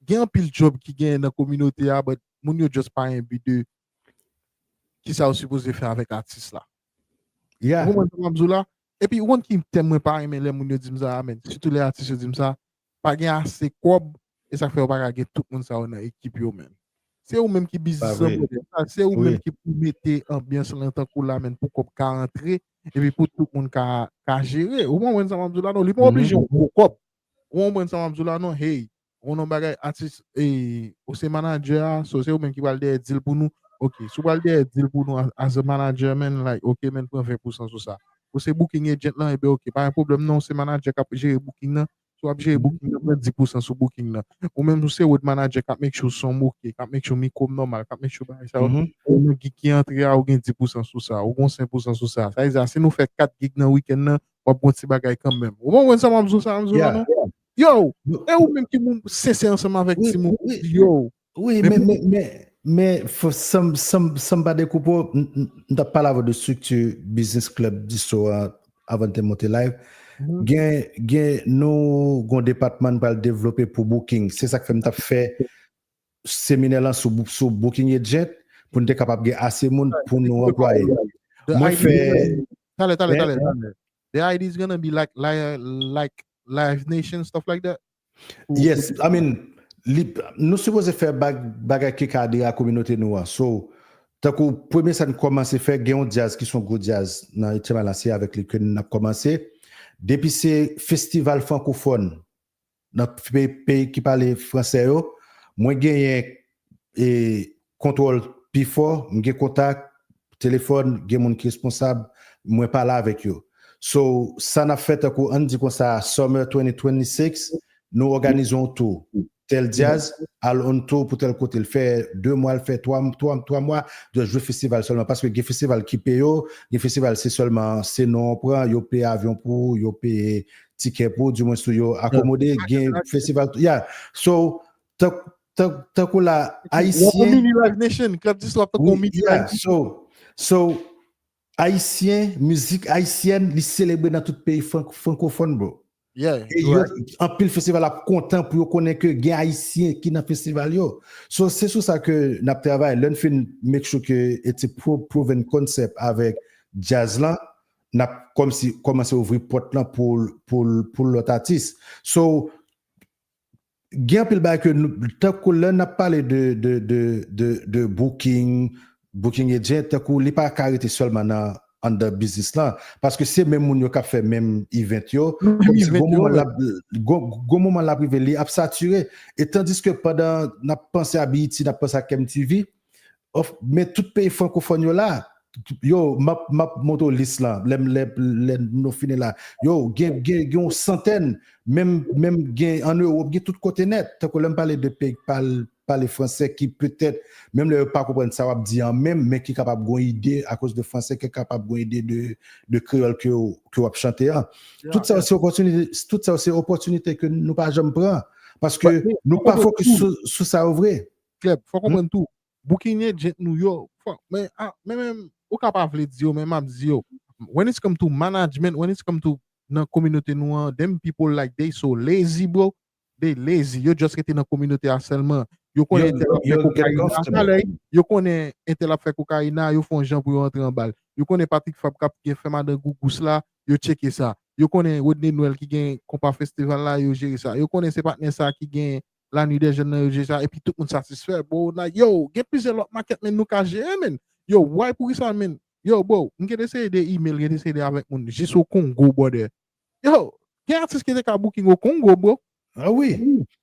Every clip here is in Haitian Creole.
Gen anpil job ki gen nan kominote a but moun yo just pa enbi de kisa yo sipoze fè avèk atis la. Yeah. Ou konprann sa map di w la? Epi ou konn ki tèm mwen pa renmen lè moun yo di m sa a menn, sitou lè atis yo di m sa, pa gen ase kòb e sak fè yo paka gen tout moun sa yo nan ekip yo menn. Se ou menm ki biznis lan brother, sa se ou menm ki pou mete anbyans lan tankou la menn pou kòb ka antre epi pou tout moun ka jere. Ou konprann sa map di w la non? Li pa oblije yon gwo kòb, Ou konprann sa map diw la non hey ou konn yon bagay atis ou se manager a so se ou menm ki pral dèyè dil pou nou ok si ou pral dèyè dil pou nou as a manager man like ok man pran 20 pousan sou sa ou se booking agent lan ebyen ok pa gen pwoblèm non ou se manager kap jere booking nan si wap jere booking nan pran 10 pousan sou booking nan ou menm ou se road manager kap make sure sonm ok kap make sure mikrom nòmal kap make sure bagay sa yo ou menm gig ki antre a ou gen 10 pousan sou sa ou gon 5 pousan sou sa sa vle di a si nou fè 4 gig nan weekend nan Wap gon ti bagay kanmenm. Ou konprann sa map zou sa mzou la non? Yow! E ou menm ki moun sensè ansanm avèk ti moun ou di yo. Wi men men men men sanm sanm sanm pa dekoupe w m tap pale avè w de strikti biznis klèb distro a avan n te monte live gen gen nou gon depatman n pral devlope pou booking se sak fè m tap fè seminè lan sou booking agent pou n te kapab gen ase moun pou nou anplwaye yo. Mwen fè. Talè, talè, talè, talè. The idea is gonna be like like Live Nation stuff like that? Yes, I mean, nou sipoze fè bagay ki ka adere a kominote nou an. So, tankou premye sa n kòmanse fè, gen yon djaz ki son gwo djaz nan Etyèm Alasye avèk li ke n ap kòmanse. Depi se festival frankofòn Nan peyi ki pale fransè yo, mwen genyen kontwòl pi fò, m gen kontak, telefòn, gen moun ki responsab, mwen pale avèk yo. So, sa n ap fè tankou ann di konsa Summer 2026, nou òganize yon tou. Tèl dyaz al on tou pou tèl kote, l fè de mwa, l fè twa mwa, just jwe festival sèlman. Paske gen festival ki peye w, gen festival se sèlman se non w pran, yo peye avyon pou ou, yo peye tikè pou di mwen sou yo akomode gen festival tou ya so tank tank tank ou la ayisyen ya so so ayisyen mizik ayisyen li selebre nan tout peyi frankofon bro ya anpil festival ap kontan pou yo konnen ke gen ayisyen ki nan festival yo so se sou sa ke nap travay lèn fin make sure ke it's a proven concept avèk jazz lan nap kòmsi kòmanse ouvri pòt lan pou pou pou lòt atis so gen anpil bagay ke nou tankou lè nap pale de de de de de booking booking agent tankou li pa ka rete sèlman nan anndan biznis lan paske se menm moun yo kap fè menm event yo kòmsi gon moman lap gon gon moman lap rive li ap sature e tandiske pandan nap panse a BET nap panse a KMTV Of men tout peyi frankofòn yo la. Yo map map montre w lis lan lè m lè lè nou fini la. Yo gen gen gen yon santèn menm menm gen an Ewop gen tout kote nèt. Tankou lè m pale de peyi k pal pale fransè ki petèt menm lè yo pa konprann sa w ap di an menm men ki kapab gon ide akoz de fransè ke kapab gon ide de de kreyòl ke w ke w ap chante an. Tout sa yo se opòtinite tout sa yo se opòtinite ke nou pa janm pran paske nou pa fokis sou sou sa yo vre. Klèb, fò konprann tou, boukinen djent nou yo, fò, men, a, men menm, ou ka pa vle di yo men map di yo, when it's come to management, when it's come to nan kominote nou an, them people like they so lazy bro, they lazy, yo just rete nan kominote a sèlman, yo konnen Yo- entèl ap fè yo get kokayina, comfortable. talè, yo konnen entèl ap fè kokayina, yo fon jan pou yo antre anbal, yo konnen Patrick Fab kap gen fè madan gougous la, yo tcheke sa, yo konnen Rodney Noël ki gen konpa festival la, yo jere sa, yo konnen se patnè sa ki gen La nuit des jeunes nan yo jwe sa epi tout moun satisfè bro like yo gen plizyè lòt makèt menn nou ka jere menn yo why poukisa menn yo bro m gen eseye de email gen eseye de avèk moun jis o Congo brother yo gen atis ki te ka booking o Congo bro ah oui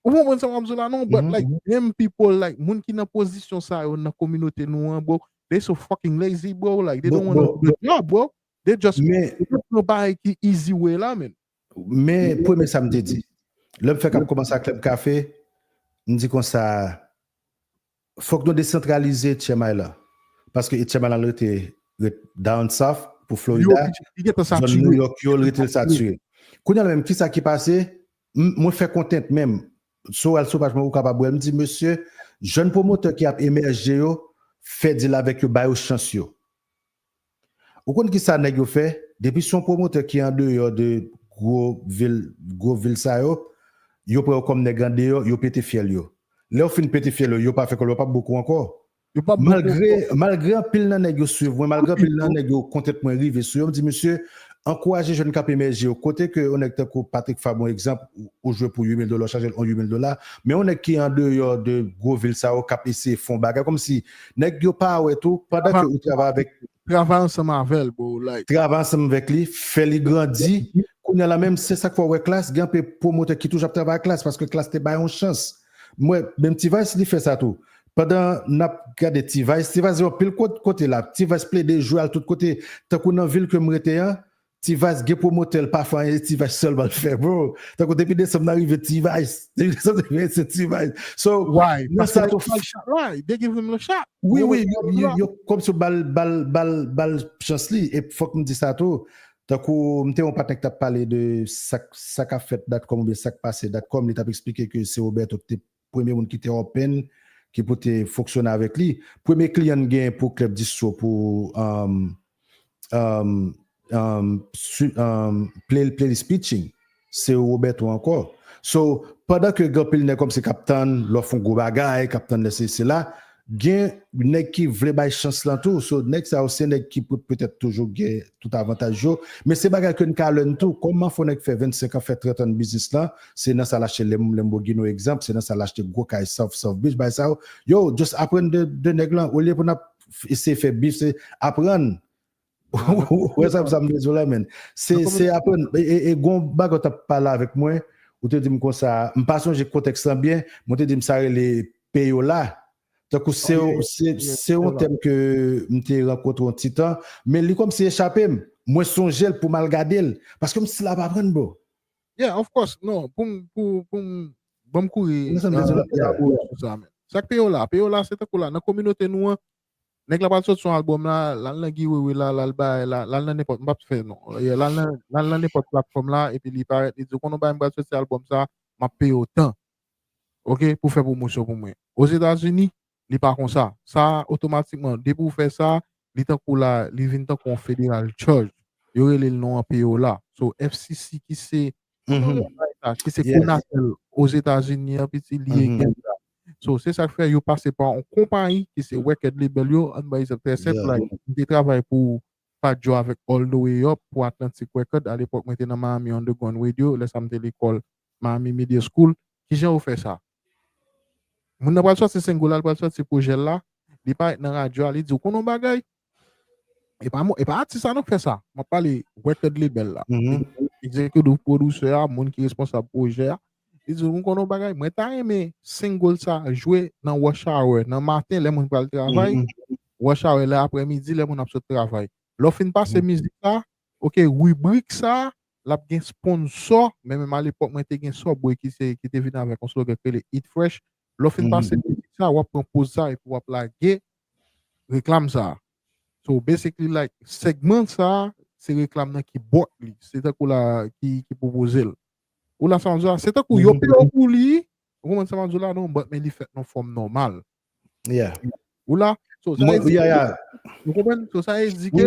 ou konprann sa map di la non but like them people like moun ki nan pozisyon sa yo nan kominote nou an bro they so fucking lazy bro like they don't wanna do the job bro they just men pran bagay ki easy way la menn Men premye sa m te di. Lè m fèk ap kòmanse ak Club Café, m di konsa, fòk nou desantralize Etchemal lan. Paske Etchemal lan l rete ret down south pou Florida, zòn New York yo, l rete l satire. Kounye a la menm, kisa ki pase? Mwen fè kontent menm. Sou al sou paj mwen ou kapab wè l. M di, mesye, jèn pwomotè ki ap emèje yo, fè dil avèk yo, ba yo chans yo. Ou konn kisa nèg yo fè, depi son pwomotè ki andeyò de gwo vil gwo vil sa yo, yo pran yo kòm nèg andeyò, yo pete fyèl yo. Lè yo fin pete fyèl yo, yo pa fè kòb yo pap bokou ankò. Malgre malgre anpil nan nèg yo swiv mwen, malgre anpil nan nèg yo kontent mwen rive sou yo, m di misye ankouraje jèn kap emèje yo, kote ke yon nèg tankou Patrick Fabre yon egzanp ou jwe pou 8000 dola ou chaje l yon 8000 dola, men yon nèg ki andeyò de gwo vil sa yo kap eseye fon bagay kòmsi Nèg yo pa wè tou pandan ke ou travay avèk. Travay ansanm avèl bro like. Travay ansanm vèk li fè li grandi kounya la menm se sak fè ou wè klass gen anpe pwomotè ki toujou ap travay ak klass paske klass te bay yon chans m wè menm ti vice li fè sa tou pandan nap gade ti vice ti vice gen anpil kote lap ti vice plede jwe al tout kote tankou nan vil kem rete an Ti vice gen promoteur l pa fè anyen se ti vice selman l fè bro tankou depi desanm nan rive ti vice depi desanm nan rive se ti vice so nan sa tou wi wi yo kòmsi yo bal bal bal bal chans li e fòk m di sa tou tankou m te yon patnè ki tap pale de sak sa kap fèt datcom oubyen sak pase datcom li tap esplike ke se Roberto ki te Premye moun ki te open, ki pou te fonksyone avèk li. Premye kliyan n gen pou Club Distro pou playlist pitching, se Roberto ankò. So, pandan ke gen anpil nèg kòmsi k ap tann lè w fè yon gwo bagay, k ap tann lè sesi sela, Gen nèg ki vle bay chans lan tou, so nèg sa yo se nèg ki pou petèt toujou gen tout avantaj yo, men se bagay ke n ka lèn tou, kòman fò nèg fè 25 an, fè 30 an nan biznis lan, se nan sa l achte Lamborghini egzanp, se nan sa l achte gwo kay South South Beach, bagay sa yo, yow just aprann de nèg lan olye pou n ap eseye fè bif se aprann Wè sa sa mwen zo la men. Se se apèn e gon bago ta pale avèk mwen, ou te dim konsa, m pa sonje kontèks lan byen, mwen te dim sa rele peyola. Tankou se se yon tèm ke m te rankontre yon ti tan, men li kòmsi echape m. Mwen sonje l pou m al gade l, paske m stil ap aprann bro. Yeah, of course. Non, pou m pou pou m ban m kouri. Sa k peyola? Peyola se tankou la nan kominote nou an, Nèg la pral sòti sou album la, lal nan Guy Wewe la, lal bay la, lal nan nenpòt, m pap fè non, yeah, lal nan, lal nan nenpòt platfòm la epi li parèt li di w konn w bagay m pral sòti album sa, map peye w tan ok pou fè pwomosyon pou mwen. Ozetazini li pa konsa, sa otomatikman depi w fè sa li tankou la li vin tankou yon federal charge, yo rele l non an peye w la. So FCC ki se Pou nou lè bay sa, ki se Conatel Ozetazini an piti li ye gen sa. So, se sa k fè yo pase pa yon konpayi ki se Record Label yo, an ba egzanp trè senp la, m te travay pou Fat Joe avèk All The Way Up pou Atlantic Record alepòk mwen te nan Miami Underground Radio, lè sa m te lekòl Miami Media School. Kijan yo fè sa? Moun nan pral sòti single la, li pral sòti projè la, li parèt nan radyo a, li di ou konnen yon bagay? E pa e pa atis sa non fè sa. Mwen pale record label la. Mm -hmm. Executive producer a, moun ki responsab projè a. Li di ou konnen yon bagay? Mwen ta renmen single sa jwe nan rush hour, nan matin lè moun pral travay. Mm -hmm. Rush hour lè après-midi lè moun ap sot travay. Lò fin pase mm -hmm. mizik sa, ok, rubrik sa, Lap gen sponsò, men menm alepòk mwen te gen Subway ki se ki te vin avèk yon slogan ki rele Eat Fresh. Lè w fin pase mizik sa, wap pran poz sa epi wap lage reklam sa. So basically like segment sa se reklam nan ki bought li, se tankou la ki ki pwopoze l. Ou la sa map di la? Se tankou yo peye w pou li, ou konprann sa map di w la non? But men li fèt nan yon fòm nòmal. Yeah. Ou la? So sa vle di ke, ou konprann? So sa vle di ke